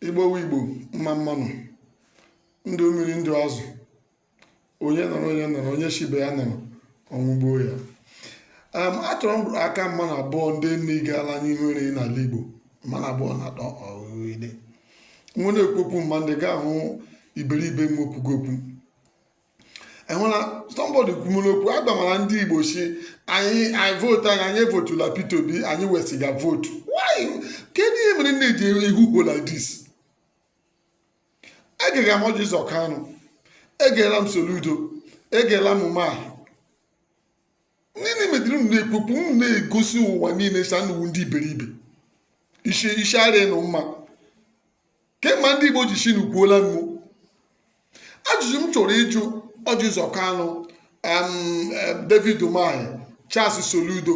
igbowe igbo mma mma nụ ndụ mmiri ndụ azụ onye nọrọ onye nọrọ onye shi ibe ya nọrọ ọnwụ gbuo ya um, achọrọ m aka mmadụ abụọ ndị nne gaala anyị nwere n'ala igbo mmadụ abụọ na atọ ọghịde nwe na-ekwopụ mma ndị ga-ahụ iberibe m okwugo okwu ehụla somebody kwumere okwu agbamara ndị igbo si anyị anyị vootu anyị anyị evotula Peter Obi anyị wesiga vootu why kedu ihe mere unu ji ekwu okwu like this egere m ọjị ụzọ kanụ egela m soludo egela m umahi nne mediri unu na-ekpokpu unu na-egosi ụwa niile sị unu wụ ndị iberibe isi isi arịa unu mma kemgbe ndị Igbo ji chinukwuola mgbu ajụjụ m chọrọ ịjụ Ọjị Ụzọ Kanụ David Umahi Charles Soludo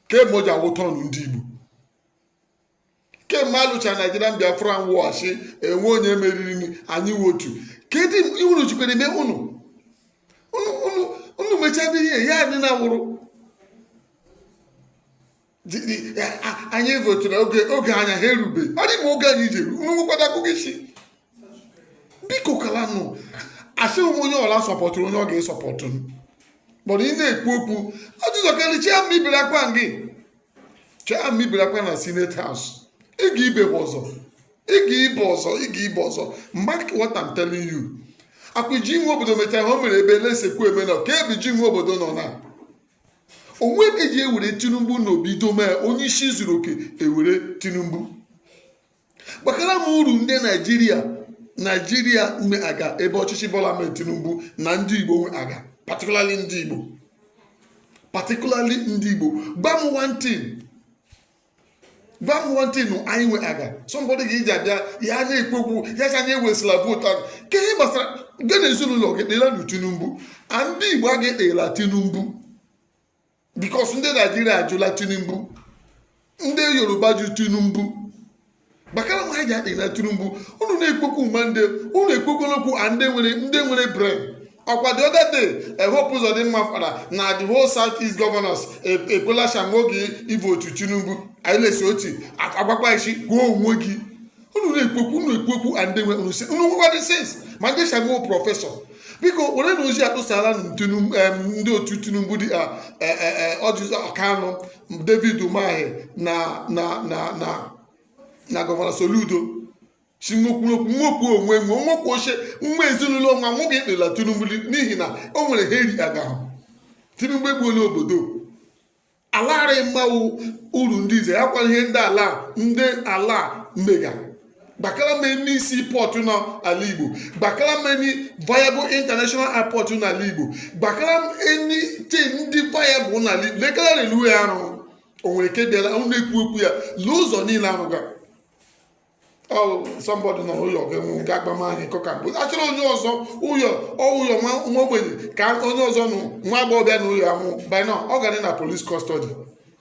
kemgbe o ji awụta ọnụ ndị Igbo kemgbe alụcha Nigerian Biafran War shi enwe onye meriri anyị wotu kedu iwuru jikwere eme unu unu mechadị ihe ya adị na wụrụ anyị votụrụ oge oge anya ha erube ọ dị mma oge anyị ji eru unu nwekwada akụkọ isi biko kalanụ asịghị m onye ọla sọpọtụrụ onye ọ ga-esọpọtụ kpọrọ ị na-ekwu okwu ọjị ụzọ kanụ chiama ibere akwa gị chiama ibere akwa na senate house ị ga ibe ọzọ ị ga ibe ọzọ ị ga ibe ọzọ mark what I'm telling you akwa jim nwobodo mechara ha o mere ebe na-esekwu eme na ka ebe jim nwobodo nọ na onwe eji ewere tinubu na obi dome onye isi zuru oke ewere tinubu gbakara m uru ndị naijiria naijiria nwe aga ebe ọchịchị bola ahmed tinubu na ndị igbo nwe aga particularly ndị igbo particularly ndị igbo gwa m one thing gwa m one thing anyị nwe aga somebody ga-eji abịa ya ana-ekwu okwu ya sị anyị ewesịla vootu ahụ ka ihe gbasara gị na ezinụlọ gị kpela na tinubu and ndị igbo a ga-ekpela tinubu because ndị naijiria ajụla tinubu ndị yoruba jụ tinubu gbakara m ha ji akpela tinubu unu na-ekwekwu ma ndị unu ekwekwala okwu a ndị nwere ndị nwere brain ọkwa the other day hope ụzọdịmma fara na the whole south east governors ekwela shamogi ivotu tinubu anyị na-esi otu agwakwa isi gbuo onwe gị unu na-ekwekwu unu ekwekwu a ndị nwere unu si unu nwekwadị sense ma ndị shago prọfesọ biko were na ozi atụsala ndị otu tinubu dị ọjị ụzọ kanụ David Umahi na na na na na gọvanọ Soludo si nwekwu okwu nwekwu onwe nwe nwekwu oche nwa ezinụlọ nwa nwoke ekpela Tinubu n'ihi na o nwere ihe eri aga ahụ Tinubu egbuola obodo alaghara mmanwụ uru ndị ize ya kwa ihe ndị ala ndị ala na-emega gbakara m any seaport n'ala igbo gbakara m any viable international airport n'ala igbo gbakara m anything dị viable n'ala igbo lekara railway a rụ o nwere nke bịara ọ na-ekwu okwu ya lee ụzọ niile a rụga somebody nọ ụyọ ga-enwe ga agbam anyị kọka mbụ achọrọ onye ọzọ ụyọ ọụyọ nwa ogbenye ka onye ọzọ nụ nwa agbọghọbịa na ụyọ anwụ by now ọ gara na police custody